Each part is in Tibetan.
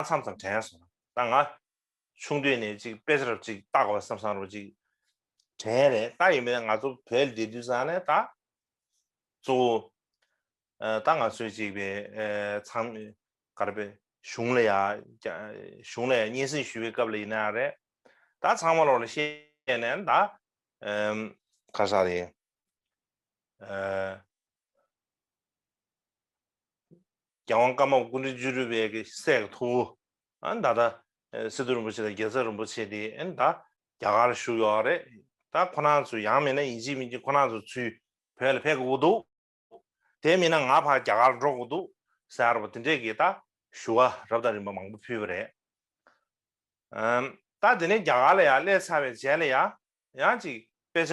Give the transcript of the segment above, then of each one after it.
མཚམས་ཙམ་དྲན་སོང་ད་ང། ཆུང་དུས་ནས་ཅིག་དཔེ་ཆར་ཅིག་བཏགས་པ་བསམ་བསམ་རོ་ཅིག། དྲན་རེད་ད་ཡིན་མིན་ང་ཚོ་བོད་ལ་བསྡད་དུས་ཙང་ནས་ད། གཙོ་བོ། ད་ང་ཚོས་ཅིག་པའི་མཚམས། གར་པའི་གཞུང་ལ་ཡ། གཞུང་ལ་ཡ་སྙན་སེང་ཞུ་བའི་སྐབས་ལ་ཡིན་ན་ཡང་རེད། ད་ཚང་མ་རོགས་ལ་བཤད་ནས་ད། ཁ་ཤགས་རེད། རྒྱལ་དབང་བཀའ་མ་ཀུན་རིག་བཅུ་རུས་པའི་སྲས་ཀྱི་ཐུ་བོ། ད་ལྟ་སི་ཏུ་རིན་པོ་ཆེ་དང་རྒྱལ་ཚབ་རིན་པོ་ཆེ་དེ་ད་རྒྱ་གར་བཞུགས་ཡོད་རེད། ད་ཁོ་ན་ཚོས་ཡང་མེད་ན་ཡིན་གཅིག་མིན་གཅིག་ཁོ་ན་ཚོ་ཚུལ་བོད་ལ་ཕེབས་དགོས་ཀྱི་འདུག་དེ་མིན་ན་ང་ཕར་རྒྱ་གར་འགྲོ་དགོས་འདུག་སེ་ཨར་བ་དེ་འདྲས་ཀྱིས་ད་ཞུ་བ་རབ་དང་རིམ་པ་མང་པོ་ཕུལ་བ་རེད། ད་དེ་ནས་རྒྱ་གར་ལ་ཡང་སླེབས་ཚར་བའི་རྗེས་ལ་ཡང་ཡང་གཅིག་དཔེ་ཆ་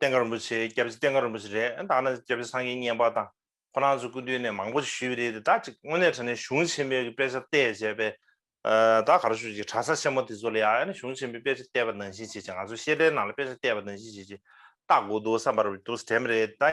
བསྟན་རྒྱ་རིན་པོ་ཆེ་སྐྱབས་རྗེ་བསྟན་རྒྱ་རིན་པོ་ཆེ་རེད་ད་ང་ནི་སྐྱབས་རྗེ་སངས་རྒྱས་བསྙེན་པ་དང་ཁོ་རང་ཚོ་སྐུ་མདུན་ནས་མང་པོ་ཞིག་ཞུས་པ་རེད་དེ་དག་ཅིག་དངོས་གནས་དྲན་ནས་གཞུང་ཆེན་པོའི་དཔེ་ཆ་བལྟས་བྱས་པས་ད་ག་རེ་ཞུ་ཅིག་གྲྭ་ས་ཆེན་མོ་དེ་ཚོ་ལ་ཡང་ཡང་ནས་གཞུང་ཆེན་པོའི་དཔེ་ཆ་བལྟས་པ་ནང་བཞིན་བྱེད་ཅིག་ང་ཚོ་བཤད་གྲྭའི་ནང་ལ་དཔེ་ཆ་བལྟས་པ་ནང་བཞིན་བྱེད་ཅིག་ལྟ་དགོས་འདུག་བསམ་པར་འདུག་དེ་མ་རེད་ད།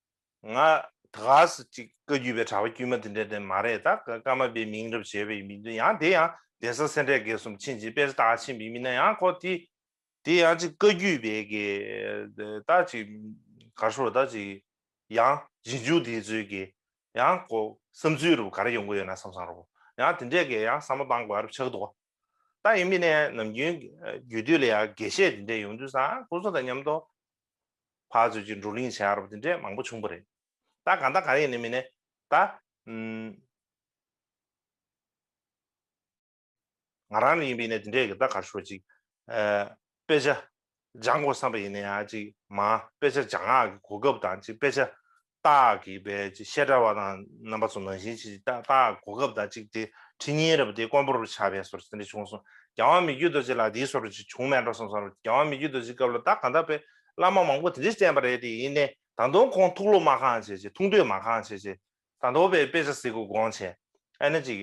ང་དགའ་བསུ་གཅིག་བཀའ་བརྒྱུད་པའི་གྲྭ་པ་དཀྱུས་མ་དེ་འདྲའི་དོན་མ་རེད་ད་ཀ་མ་པའི་མིང་རབས་བྱས་པའི་མི་འདུག་ཡང་དེ་ཡང་གདན་ས་སེ་འབྲས་དགེ་གསུམ་ཕྱིན་ཅི་དཔལ་རྟགས་ཆེན་པའི་མི་སྣ་ཡང་ཁོ་དེ་དེ་ཡང་གཅིག་བཀའ་བརྒྱུད་པའི་གི་ད་གཅིག་གར་སོ་རུ་ད་གཅིག་ཡང་རྗེས་འཇུག་དེ་ཚོའི་གི་ཡང་ཁོ་བསམ་ཚུལ་རུ་ག་རེ་ཡོང་གི་ཡོད་ན་བསམ་བསམ་རོགས་ཡང་དེ་འདྲའི་གི་ཡང་བསམ་བློ་བཏང་དགོས་རབས་ཆགས་འདུག་ད་ཡིན་མིན་ནས་ནམ་རྒྱུན་རྒྱུད་སྟོད་ལ་ཡང་དགེ་བཤེས་དེ་འདྲས་ཡོང་དུས་སང་ཁོ་ཚོ་དང་མཉམ་དུ་ཕ་ཚོད་ཀྱི་འགྲོ་གླིང་བྱ་རབས་འདི་འདྲའི་མང་པོ་བྱུང་པ་རེད། ད་གང་ད་གང་ཡིན་ནི་མིན་ནས་ད། ང་རང་ནི་ཡིན་པའི་ནས་འདི་འདྲས་ཀྱི་ད་གར་ཤོག་ཅིག། དཔེ་ཆ་སྦྱང་དགོས་བསམ་པ་ཡིན་ནའི་ཅིག་མ་དཔེ་ཆ་སྦྱང་ཨ་གི་གོ་སྐབས་དང་ཅིག་དཔེ་ཆ་རྟགས་ཀྱི་དཔེ་ཅི་ཤེས་འདྲ་བ་དང་རྣམ་པ་ཚོ་ནང་བཞིན་གྱི་རྟགས་གོ་སྐབས་དང་གཅིག་སྟེ་ཁྲི་ཉིན་རེ་བ་དེ་དཀོན་པོ་རུ་ཆགས་པས་སོར་ཚེ་འདི་བྱུང་གསུངས་རྒྱལ་དབང་མི་བརྒྱུད་རྡོ་རྗེ་ལགས་འདིའི་སོར་རུ་ཅི་བྱུང་མེད་འགྲོ་གསུངས་སོང་རྒྱལ་དབང་མི་བརྒྱུད་རྡོ་རྗེའི་སྐབས་ལ་རྟགས་གང་དག་པའི་བླ་མ་མང་པོ་དེ་འདྲས་བསྟན་པ་རེད་དེ་ཡིན་ནས་ད་དུང་ཁོང་ཐུགས་བློ་མ་གང་བྱེད་ཅེས་ཐུགས་འདོད་མ་གང་བྱེད་ཅེས་ཟ་འདོད་པའི་དཔེ་ཆ་གཟིགས་དགོས་དགོངས་བྱས་ཨ་ནི་ཅིག་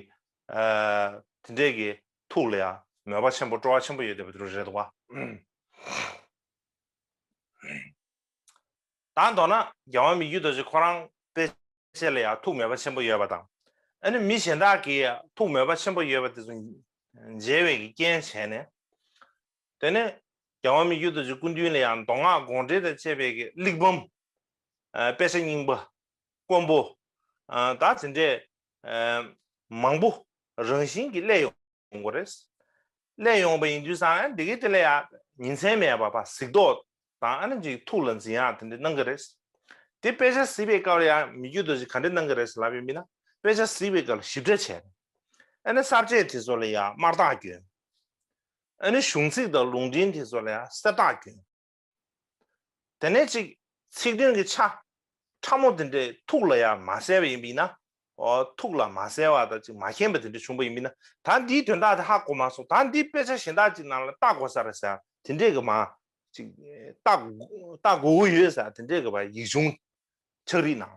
དེ་འདྲས་ཀྱི་ཐུགས་ལ་ཡང་མོས་པ་ཆེན་པོ་སྤྲོ་བ་ཆེན་པོ་ཡོད་བསྡད་པ་དེ་རུ་རེད་བ། དང་མདོར་ན་རྒྱལ་བ་མི་རྒྱུད་རྡོ་རྗེ་ཁོ་རང་དཔེ་བྱད་ལ་ཡང་ཐུགས་མོས་པ་ཆེན་པོ་ཡོད་པ་དང། ཨ་ནུ་མི་གཞན་དག་གིས་ཐུགས་མོས་པ་ཆེན་པོ་ཡོད་པ་དེ་ཚོ་འཇལ་བའི་གི་རྐྱེན་བྱས་ནས། དེ་ནས་རྒྱལ་བ་མི་རྒྱུད་རྡོ་རྗེ་སྐུ་མདུན་ལ་ཡང་མདོ་སྔགས་དགོངས་འགྲེལ་དང་བཅས་པའི་གི་གླེགས་བམ། དཔེ་ཆ་རྙིང་པ། དཀོན་པོ། དང་དེ་འདྲས། མང་པོ་རང་བཞིན་གྱིས་གླས་ཡོང་གོ་རེད། གླེང་ཡོང་བ་ཡིན་དུས་སང་ཨ་ནི་དེ་གའི་དེ་ལ་ཡ། ཉིན་མཚན་མེད་པར་བ་གཟིགས་རྟོག་དང་ཨ་ནི་ཅིག་ཐུགས་ལ་འཛིན་ཡག་དེ་འདྲ་གནང་གི་རེད། དེ་དཔེ་ཆ་གཟིགས་པའི་སྐབས་ལ་ཡ་མི་རྒྱུད་དོ་ཅིག་ག་འདྲ་གནང་གི་རེད་ལབ་ཡོད་མིན་ན་དཔེ་ཆ་གཟིགས་པའི་སྐབས་ལ་ཞིབ་ཕྲ་བྱས་རེད། ཨ་ནི་གསར་བཅད་དེ་ཚོ་ལ་ཡ་དམར་རྟགས་གྱོན། ཨ་ནི་གཞུང་ཚིག་དང་ལུང་འདྲེན་དེ་ཚོ་ལ་ཡ་སེར་རྟགས་གྱོན། དེ་ནས་ཅིག། ཚིག་དོན་གྱི་ཆ། ཕྲ་མོ་དེ་འདྲའི་ཐུགས་ལ་ཡང་མ་གསལ་བ་ཡིན་པས་ན། ཐུགས་ལ་མ་གསལ་བ་དང་ཅིག་མ་མཁྱེན་པ་དེ་འདྲ་བྱུང་བ་ཡིན་པས་ན། ད་འདིའི་དོན་དག་དེ་ཧ་གོ་མ་སོང་ད་འདིའི་དཔེ་ཆ་གཞན་དག་ཅིག་ནང་ལ་བལྟ་དགོ་ས་རེད་ཟེར་ཡང་དེ་འདྲའི་གི་མ། ཅིག། བལྟ་དགོ་གི་ཡོད་ཟེར་ཡང་དེ་འདྲའི་གི་བ་ཡིག་ཆུང། ཕྱག་རིས་ནང།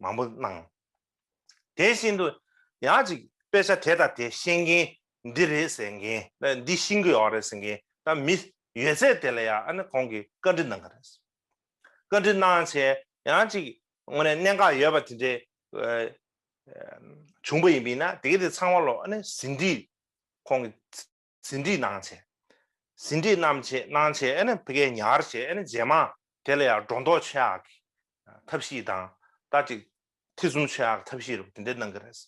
མང་པོ་གནང། དེ་བཞིན་དུ་ཡང་ཅིག་དཔེ་ཆ་དེ་དང་དེ་ཤེས་མཁན་འདི་རེད་ཟེར་མཁན་འདི་ཤེས་ཀྱི་ཡོད་རེད་ཟེར་མཁན་དང་མི་ཡོད་ཚད་དེ་ལ་ཡང་ཁོང་གིས་བཀའ་འདྲི་གནང་གི་རེད། བཀའ་འདྲི་གནང་བྱས་ཡང་ཅིག་དངོས་གནས་གནད་འགག་ཡོད་པ་དེ་འདྲའི་བྱུང་པ་ཡིན་པས་ན་དེ་ག་དེ་ཚང་མ་ལ་ཟིན་བྲིས་ཁོང་གིས། ཟིན་བྲིས་གནང་བྱས། ཟིན་བྲིས་གནང་བྱས་གནང་བྱས་ཨ་ནི་བྷི་གས་ཉར་བྱས་ཨ་ནི་རྗེས་མ་དེ་ལ་ཡང་སྒྲོ་འདོགས་ཆེ་ཧ་གི་ཐབས་ཤེས་དང་ད་ཅིག་ཐེ་ཚོམ་ཆེ་ཧ་གི་ཐབས་ཤེས་རུ་དེ་འདྲས་གནང་གི་རེད།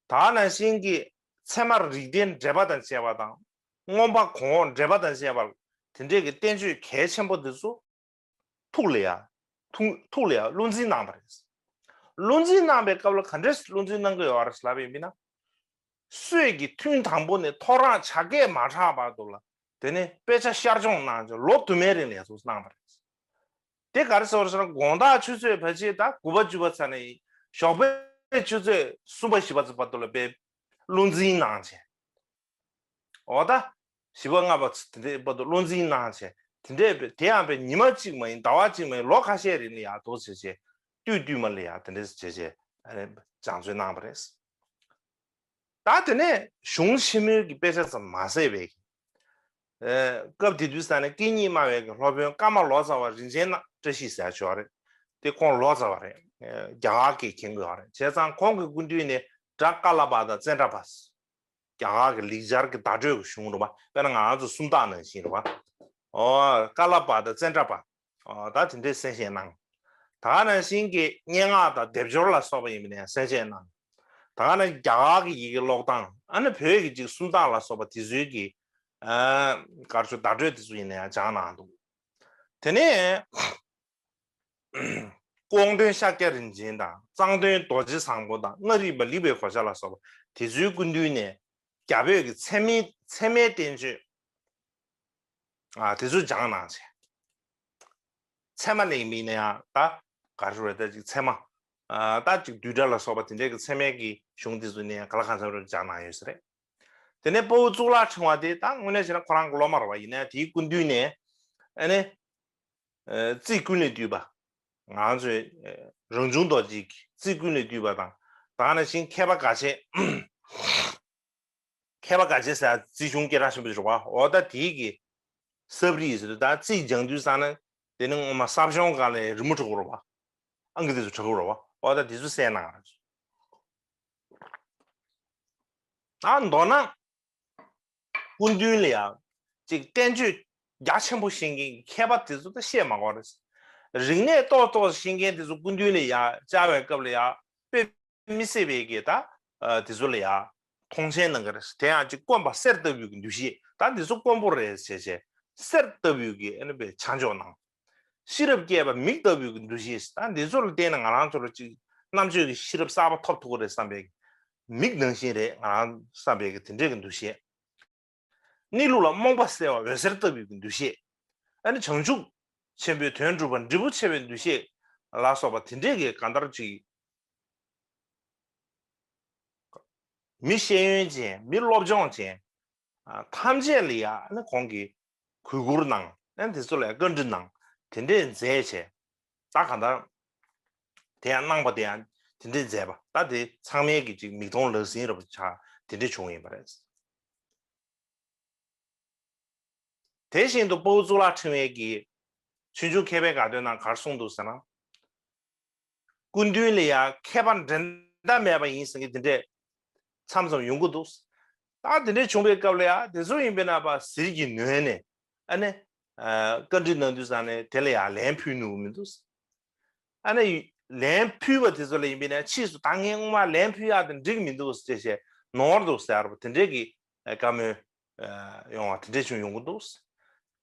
ད་ནང་བཞིན་གྱི་ཚད་མར་རིགས་ལྡན་འགྲེལ་པ་དང་བཅས་པ་དང་སྔོན་དཔག་གོང་འོག་འགྲེལ་པ་དང་བཅས་པ་དེ་འདྲས་ཀྱི་བསྟན་བཅོས་གལ་ཆེན་པོ་འདི་ཚོ། ཐུགས་ལ་ཡང་ཐུགས་ལ་ཡང་བློ་འཛིན་གནང་བ་རེད། བློ་འཛིན་གནང་པའི་སྐབས་ལ་ག་འདྲས་བློ་འཛིན་གནང་གི་ཡོད་རེད་ལབ་ཡོད་མིན་ན། སྲོད་ཀྱི་ཐུན་དང་པོ་ནས་ཐོ་རངས་བྱ་སྐད་མ་གྲགས་བར་དུ་ལ་དེ་ནས་དཔེ་ཆ་བཤར་སྦྱོང་གནང་རྗེས་ལོ་དུ་མའི་རིང་ལས་ཚོགས་གནང་བ་རེད། དེ་ག་རེ་ཟེར་བ་ཞེ་ན་དགོངས་དག་ཆུ་ཚོད་བར་ཆད་དང་དགུ་པ་བཅུ་པ་ཚར་ནས་ཞོགས་པའི་ཆུ་ཚོད་གསུམ་པ་བཞི་པ་ཚོ་བར་དུ་ལ་བའི་བློ་འཛིན་གནང་བྱས། འོ་ད། བཞི་པ་ལྔ་པ་ཚོ་དེ་འདྲའི་བར་དུ་བློ་འཛིན་གནང་བྱས། དེ་འདྲའི་བར་དེ་ཡང་བའི་ཉི་མ་གཅིག་མ་ཡིན་ཟླ་བ་གཅིག་མ་ཡིན་ལོ་ཁ་ཤས་རིང་ལ་ཡག་ཐོག་བྱས་བྱས། བསྟུད་བསྟུད་མ་ལ་ཡང་དེ་འདྲས་བྱས་བྱས། སྦྱང་བརྩོན་གནང་བ་རེད། ད་དེ་ནས་གཞུང་ཆེན་མོའི་གི་དཔེ་ཆ་ཙམ་མ་ཟད་བའི་གི། སྐབས་དེ་དུས་ས་ནས་སྐད་གཉིས་སྨྲ་བའི་གི་སློབ་དཔོན་བཀའ་མ་ལོ་ཙཱ་བ་རིན་ཆེན་ནག་བཀྲ་ཤིས་ཟེར་ཞོག་རེད། དེ་ཁོང་ལོ་ཙཱ་བ་རེད། རྒྱ་གར་གི་གྱེན་དགོས་བ་རེད་བྱས་ཙང་ཁོང་གི་སྐུ་མདུན་ནས་བཛྲ་ཀ་ལ་པ་དང་ཙནྡྲ་པ། རྒྱ་གར་གྱི་ལེགས་སྦྱར་གྱི་བརྡ་སྤྲོད་ཀྱི་གཞུང་རུ་མ་དཔེར་ན་ང་ཚོ་སུམ་རྟགས་ནང་བཞིན་རུ་མ། ཀ་ལ་པ་དང་ཙནྡྲ་པ། དང་དེ་འདྲའི་གསལ་བཤད་གནང། ད་ག་ནང་བཞིན་གྱི་སྙན་ངག་དང་སྡེབ་སྦྱོར་ལ་སོགས་པ་ཡིན་པ་ནས་ཡང་གསལ་བཤད་གནང། ད་ག་ནང་རྒྱ་གར་གྱི་ཡི་གེ་ཀློག་སྟངས་ཨ་ནི་བོད་ཀྱི་ཅིག་སུམ་རྟགས་ལ་སོགས་པ་དེ་ཚུལ་གྱི། སྐར་ཆུ་བརྡ་སྤྲོད་དེ་ཚོ་ཡིན་ན་ཡང་སྦྱངས་གནང་འདུག་དེ་ནས། ཀོང་སྟོན་ཤཱཀྱ་རིན་ཆེན་དང་གཙང་སྟོན་རྡོ་རྗེ་བཟང་པོ་དང་མངའ་རིས་པ་ལི་བའི་གོ་ཆ་ལ་སོགས་པ་དེ་ཚོའི་སྐུ་མདུན་ནས་རྒྱ་བོད་ཀྱི་ཚད་མའི་ཚད་མའི་བསྟན་བཅོས་དེ་ཚོ་སྦྱངས་གནང་བྱས། ཚད་མ་ལེགས་མིན་ན་ཡང་ད་ག་རེ་རེད་ད་ཅིག་ཚད་མ། ད་ཅིག་བསྡུས་གྲྭ་ལ་སོགས་པ་དེ་འདྲའི་གི་ཚད་མའི་གི་གཞུང་དེ་ཚོ་ནས་ག་ལ་གང་འཚམས་རེ་སྦྱངས་གནང་ཡོད་ས་རེད། དེ་ནས་སྤོ་བོ་གཙུག་ལག་ཕྲེང་བ་དེ་ད་དངོས་གནས་བྱས་ན་ཁོ་རང་གི་སློབ་མ་རུ་བ་ཡིན་ན་དེའི་སྐུ་མདུན་ནས་ཨ་ནི། རྩིས་ཀུན་ལས་བཏུས་པ། ང་ཚོས་རང་བྱུང་རྡོ་རྗེའི་རྩིས་ཀུན་ལས་བཏུས་པ་དང་དག་ན་ཞིང་མཁས་པ་འགའ་ཤས། མཁས་པ་འགའ་ཤས་སྲས་རྩིས་གཞུང་སྐད་གྲགས་ཆེན་པོ་ཞིག་རོགས་པ་འོ་ད་དེའི་གི་སབ་རིས་སུ་ད་རྩིས་སྦྱང་དུས་བསགས་ན་དེ་ནི་ངོ་མ་སབ་ཤོང་དགའ་ལས་རི་མོ་བྲག་གུ་རོགས་པ་ཨང་ཀི་དེ་ཚོ་བྲག་གུ་རོགས་པ་འོ་ད་དེ་ཚོ་སྲས་ནང་ན། ད་མདོར་ན་སྐུ་མདུན་ལ་ཡང་ཅིག་བསྟན་བཅོས་རྒྱ་ཆེན་པོ་བཤད་མཁན་གྱི་མཁས་པ་དེ་ཚོ་དང་བཤད་མ་གོ་རེད། རིག་གནས་གཏོར་ཏོག་བཤད་མཁན་དེ་ཚོ་སྐུ་མདུན་ལ་ཡང་བཅའ་བའི་སྐབས་ལ་ཡང་དཔེ་མི་སྲིད་པའི་གི་ད་དེ་ཚོ་ལ་ཡང་མཐོང་ཆེན་གནང་གི་རེད། དེ་ཡང་ཅིག་དཀོན་པ་གསེར་ལྟ་བུའི་གི་འདུ་ཤེས་ད་དེ་ཚོ་དཀོན་པོ་རེད་བྱས་བྱས་གསེར་ལྟ་བུའི་གི་ཨ་ནི་བས་ཆ་འཇོག་གནང། ཤེས་རབ་སྐྱེས་པ་མིག་ལྟ་བུའི་འདུ་ཤེས་དང་འདི་ཚོ་ལ་བརྟེན་ནས་ང་རང་ཚོར་ཅིག་རྣམ་དཔྱོད་ཀྱི་ཤེས་རབ་གསར་པ་ཐོབ་ཐུབ་ཀྱི་རེད་བསམ་པའི་མིག་ནང་བཞིན་རེད་ང་རང་བསམ་པའི་དེ་འདྲའི་འདུ་ཤེས། གནས་ལུགས་ལ་རྨོངས་པ་སེལ་བ་འོད་ཟེར་ལྟ་བུའི་འདུ་ཤེས། ཨ་ནི་བྱང་ཆུབ་ཆེན་པོའི་དོན་སྒྲུབ་པ་འབྲས་བུ་ཆེ་བའི་འདུ་ཤེས་ལ་སོགས་པ་དེ་འདྲའི་གང་ལྟར་ཅིག། མི་ཤེས་ཡོན་ཅན་མི་སློབ་སྦྱོང་ཅན་ཐམས་ཅད་ལ་ཡང་ཨ་ནི་གོང་གི་གུས་བཀུར་གནང། ནས་དེ་ཚོ་ལ་ཡང་བཀའ་འདྲི་གནང། དེ་འདྲས་མཛད་བྱས། ད་གང་ལྟར། དེ་ཡང་གནང་པ་དེ་ཡང་དེ་འདྲས་མཛད་པ། ད་དེ་ཚང་མལ་གྱི་ཅིག་མིག་མཐོང་ལག་ཟིན་ར་བ་ཆ་དེ་འདྲས་བྱུང་བ་ཡིན་པ་རེད། དེ་བཞིན་དུ་སྤོ་བོ་གཙུག་ལག་ཕྲེང་བས་ཀྱིས། ཕྱིས་འབྱུང་མཁས་པའི་དགའ་སྟོན་ན་གར་གསུངས་འདུག་ཟེར་ན། སྐུ་མདུན་ལ་ཡང་མཁས་པ་འགྲན་ཟླ་མེད་པ་ཡིན་ཟེར་མཁན་དེ་འདྲས་མཚམས་མཚམས་ཡོང་གི་འདུག། ད་དེ་འདྲས་བྱུང་པའི་སྐབས་ལ་ཡང་དེ་ཚོ་ཡིན་པས་ན་པ་ཟིལ་གྱིས་ནོན་ནས་ཨ་ནེ། བཀའ་འདྲི་གནང་དུས་སམ་ནས་དེ་ལ་ཡང་ལན་ཕུལ་ནུས་མི་འདུག། ཨ་ནེ། ལན་ཕུལ་བ་དེ་ཚོ་ལ་ཡིན་པས་ན་ཕྱིས་སུ་ད་ངས་སྔོན་མ་ལན་ཕུལ་ཡག་དེ་འགྲིག་མི་འདུག་ཅེས་བཤད་ནོར་འདུག་ཟེར་བ་དེ་འདྲས་ཀྱི་བཀའ་མོལ་ཡོང་བ་དེ་འདྲས་ཅུང་ཡོང་གི་འདུག།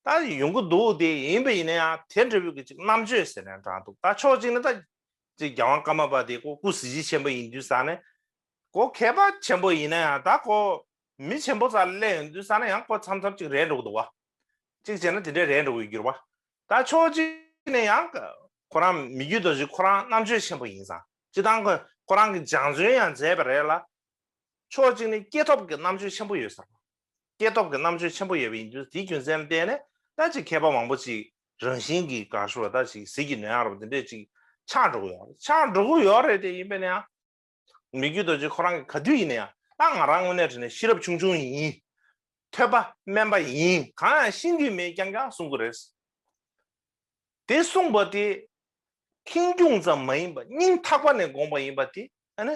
ད་ཡོང་གི་འདུག་དེ་ཡིན་པ་ཡིན་ན་ཡང་དེ་འདྲ་བོའི་ཅིག་རྣམ་དཔྱོད་ཟེར་ནའི་དྲག་འདུག་ད་ཕྱོགས་གཅིག་ནས་ད་ཅིག་རྒྱལ་དབང་ཀརྨ་པ་དེ་ཀོ་སྐུ་གཟི་བརྗིད་ཆེན་པོ་ཡིན་དུས་ས་ནས་ཀོ་མཁས་པ་ཆེན་པོ་ཡིན་ན་ཡང་ད་ཀོ་མི་ཆེན་པོ་ཙག་ལེ་ཡིན་དུས་ས་ནས་ཡང་ཀོ་མཚམས་མཚམས་ཅིག་རེད་འགྲོ་གི་འདུག་བ། ཅིག་བྱས་ན་དེ་འདྲས་རེད་འགྲོ་གི་འགྱུར་བ། ད་ཕྱོགས་གཅིག་ནས་ཡང་ཁོ་རང་མི་རྒྱུད་དོ་གཞི་ཁོ་རང་རྣམ་དཔྱོད་ཆེན་པོ་ཡིན་ཙང་ཅི་ཐང་ཁོ་རང་གི་སྦྱང་བརྩོན་ཡང་མཛད་པ་རེད་ལ་ཕྱོགས་གཅིག་ནི་སྐྱེས་ཐོབ་ཀྱི་རྣམ་དཔྱོད་ཆེན་པོ་ཡོད་ཟེར་བ། སྐྱེས་ཐོབ་ཀྱི་རྣམ་དཔྱོད་ཆེན་པོ་ཡོད་པ་ཡིན་དུས་དེའི་རྒྱུ་མཚན་ལ་བརྟེན་ནས་ད་ཅིག་མཁས་པ་མང་པོ་ཅིག་རང་བཞིན་གྱིས་དགའ་བསུ་བ་ད་ཅིག་ཟིལ་གྱིས་ནོན་ཡ་རབས་འདི་འདྲས་ཅིག་ཆགས་འགྲོ་གི་ཡོད་རེད་ཆགས་འགྲོ་གི་ཡོད་རེད་དེ་ཡིན་པས་ན་ཡང། མི་རྒྱུད་རྡོ་རྗེ་ཁོ་རང་གིས་ག་དུས་ཡིན་ན་ཡང་ད་ང་རང་དངོས་གནས་དྲིས་ནས་ཤེས་རབ་ཆུང་ཆུང་ཡིན། ཐོས་པ་དམན་པ་ཡིན་གང་ཡང་ཤེས་འདོད་མེད་རྐྱང་རྐྱང་གསུང་གི་རེད། དེ་གསུངས་པ་དེ་ཁེངས་སྐྱུང་ཙམ་མ་ཡིན་པར་སྙིང་ཐག་པ་ནས་དགོངས་པ་ཡིན་པ་དེ་ཨ་ནི་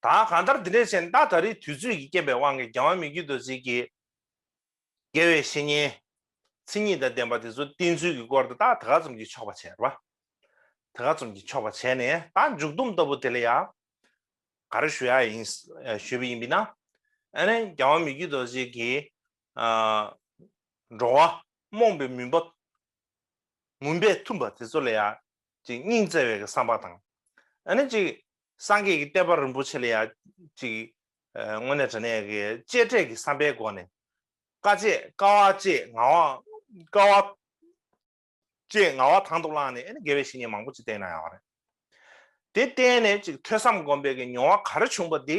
ད་གང་ལྟར་འདི་འདྲའི་གཞན་དག་ད་རེས་དུས་ཚོད་ཀྱི་རྐྱེན་པའི་དབང་གིས་རྒྱལ་བ་མི་རྒྱུད་དུ་ཟིལ་གྱིས་བརྒལ་བའི་བཤེས་གཉེན། མཚན་ཉིད་དང་ལྡན་པ་དེ་ཚོ་བསྟེན་ཚུལ་གྱི་སྐོར་དུ་རྟགས་དེ་ག་ཙམ་གྱིས་ཆོག་པ་བྱས་པ། དེ་ག་ཙམ་གྱིས་ཆོག་པ་བྱས་ནས་ད་མཇུག་བསྡོམས་ལྟ་བུ་དེ་ལ་ཡང་ག་རེ་ཞུ་ཡ་ཡིན་ཞུས་པ་ཡིན་པས་ན། ཨ་ནི་རྒྱལ་བ་མི་རྒྱུད་དུ་ཟིལ་གྱིས་འགྲོ་བ་རྨོངས་པའི་མུན་པ་མུན་པས་འཐུམས་པ་དེ་ཚོ་ལ་ཡང་ཅིག་སྙིང་བརྩེ་བའི་བསམ་པ་དང། ཨ་ནི་ཅིག་སངས་རྒྱས་ཀྱི་བསྟན་པ་རིན་པོ་ཆེ་ལ་ཡང་ཅིག་དངོས་གནས་དྲན་ནས་གཅེས་སྤྲས་ཀྱི་བསམ་པའི་སྒོ་ནས་དཀའ་སྤྱད་དཀའ་བ་སྤྱད་ངང་བ་དཀའ་བ་སྤྱད་ངང་བ་དང་དུ་བླངས་ནས་ཨ་ནི་དགེ་བའི་བཤེས་གཉེན་མང་པོ་ཅིག་བསྟེན་གནང་ཡོང་བ་རེད། དེ་བསྟེན་ནས་ཅིག་ཐོས་བསམ་སྒོམ་པའི་མྱོང་བ་ག་རེ་བྱུང་བ་དེ་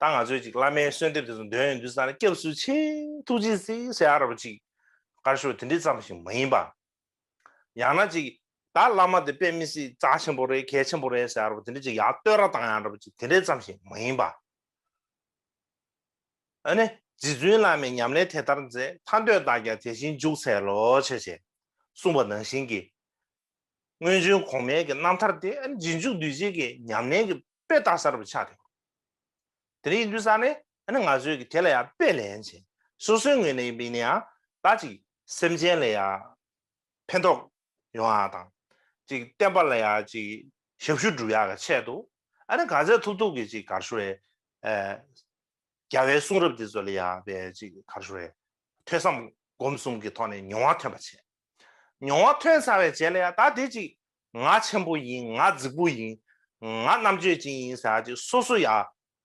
ད་ང་ཚོས་ཅིག་བླ་མའི་གསོལ་འདེབས་དེ་ཚོ་འདོན་ཡོང་དུས་ས་ན་སྐྱབས་སུ་མཆི། ཐུགས་རྗེ་གཟིགས་ཟེར་ཨ་ར་བ་ཅིག་དཀར་ཤོག་དེ་འདྲི་ཙམ་ཞིག་མ་ཡིན་པ། ཡང་ན་ཅིག་ད་བླ་མ་དེ་དཔེ་མི་སྲིད་རྩ་ཆེན་པོ་རེད་གལ་ཆེན་པོ་རེད་ཟེར་ཨ་ར་བ་དེ་འདྲི་ཅིག་ཡག་བསྟོད་ར་དང་ཨ་ར་བ་ཅིག་དེ་འདྲི་ཙམ་ཞིག་མ་ཡིན་པ། ཨ་ནི་རྗེ་བཙུན་བླ་མའི་ཉམས་ལེན་དེ་ལྟར་མཛད་ཐ་འདོད་བདག་ཀྱང་དེ་བཞིན་འཇུག་འཚལ་ལོ་བྱས་བྱས་གསུངས་པ་ནང་བཞིན་གྱི། སྔོན་བྱོན་གོང་མའི་གི་རྣམ་ཐར་དེ་ཨ་ནི་རྗེས་འཇུག་འདུས་བྱས་ཀྱི་ཉམས་ལེན་གྱི་དཔེ་བལྟ་གསར་བུ་ཆགས་ཐེངས་དེ་རིང་འདུས་ས་ནི་ཨ་ནི་ང་ཚོས་ཀྱི་དེ་ལ་ཡང་དཔེ་ལེན་བྱེད་སོ་སོའི་ངོས་ནས་ཡིན་པའི་ནི་ཡང་དག་ཅིག་སེམས་ཅན་ལ་ཡང་ཕན་ཐོགས་ཡོང་ཡག་དང་ཅིག་བསྟན་པ་ལ་ཡང་ཅིག་ཞབས་ཞུ་བསྒྲུབ་ཡག་གི་ཆེད་དུ་ཨ་ནི་ག་ཚད་ཐུབ་ཐུབ་ཀྱི་ཅིག་གར་ཞུ་རེ་རྒྱ་བའི་གསུང་རབ་འདི་ཚོ་ལ་ཡང་བས་ཅིག་གར་ཞུ་རེ་ཐོས་བསམ་སྒོམ་གསུམ་གྱི་ཐོག་ནས་མྱོང་བ་ཐོན་པ་བྱས། མྱོང་བ་ཐོས་ཚར་བའི་རྗེས་ལ་ཡང་དག་དེ་ཅིག་ང་ཆེན་པོ་ཡིན་ང་རྫིག་པོ་ཡིན། ང་རྣམ་དཔྱོད་ཅན་ཡིན་ཟེར་བ་ཅིག་སོ་སོ་ཡ་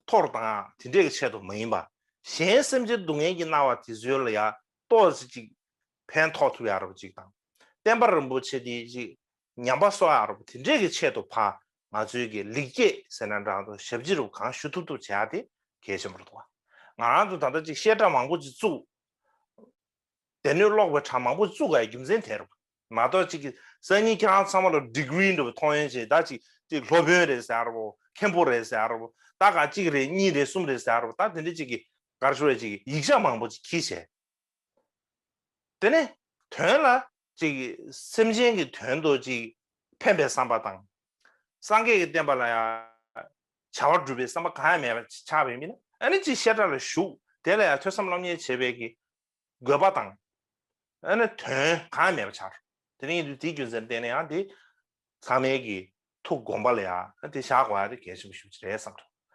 ཐོར་དང་དེ་འདྲས་ཀྱི་ཆེད་དུ་མ་ཡིན་པར་གཞན་སེམས་ཅན་སྡུག་བསྔལ་གྱི་སྣང་བ་དེ་ཚོའི་ལ་ཡ་ཏོག་ཙི་ཅིག་ཕན་ཐོགས་ཐུབ་ཡ་རབས་ཅིག་དང། བསྟན་པ་རིན་པོ་ཆེ་དེ་ཅིག་ཉམས་པ་གསོ་ཡ་རབས་དེ་འདྲས་ཀྱི་ཆེད་དུ་ཕ་ང་ཚོའི་གི་ལེགས་སྐྱེས་ཟེར་ན་འདྲ་འདུག་ཞབས་ཕྱི་རུ་གང་ཞུ་ཐུབ་ཐུབ་བྱས་ཡ་དེ་གལ་ཆེན་པོར་འདུག་ང་རང་ཚོ་ད་ལྟ་ཅིག་བཤད་གྲྭ་མང་པོ་ཅིག་བཙུགས། སྡེ་སྣོད་ཀློག་པའི་གྲངས་མང་པོ་བཙུགས་ཀ་ཡི་རྒྱུ་མཚན་དེ་རེད། མ་གཏོགས་ཅིག་གསར་རྙིང་ཁྱེད་རང་ཚང་མ་ལ Degree འགྲོ་བའི་མཐོང་ཡོན་ཆེ་ད་ཅིག་ཅིག་སློབ་དཔོན་རེད་ཟེར་བ་མཁན་པོ་རེད་ཟེར་བ་ད་ག་གཅིག་རེད་གཉིས་རེད་གསུམ་རེད་ཟེར་བ་ད་དེ་འདྲ་ཅིག་གི་གར་ཤོར་བའི་ཅིག་ཡིག་ཆ་མང་པོ་ཅིག་གིས་བྱས། དེ་ནས་དོན་ལ་ཅིག། སེམས་ཅན་གྱི་དོན་དུ་ཅིག། ཕན་པའི་བསམ་པ་དང། སངས་རྒྱས་ཀྱི་བསྟན་པ་ལ་ཡང། བྱ་བ་སྒྲུབ་པའི་བསམ་པ་གང་ཡང་མེད་པར་ཆགས་པའི་མི་ནི་ཨ་ནི་ཅིག་བཤད་གྲྭ་ལ་ཞུགས་དེ་ལ་ཡང་ཐོས་བསམ་སློབ་གཉེར་བྱེད་པའི་གི། དགོས་པ་དང། ཨ་ནི་དོན་གང་ཡང་མེད་པར་ཆགས། དེ་ནི་དེའི་རྒྱུ་མཚན་བསྟན་ནས་ཡང་དེ། ཚང་མལ་གྱི་ཐུགས་དགོངས་པ་ལ་ཡང་དེ་བཞག་གོ་ཨ་ནི་གལ་ཆེན་པོ་ཞུ་རྒྱུ་རེད་བསམ་གྲྭ།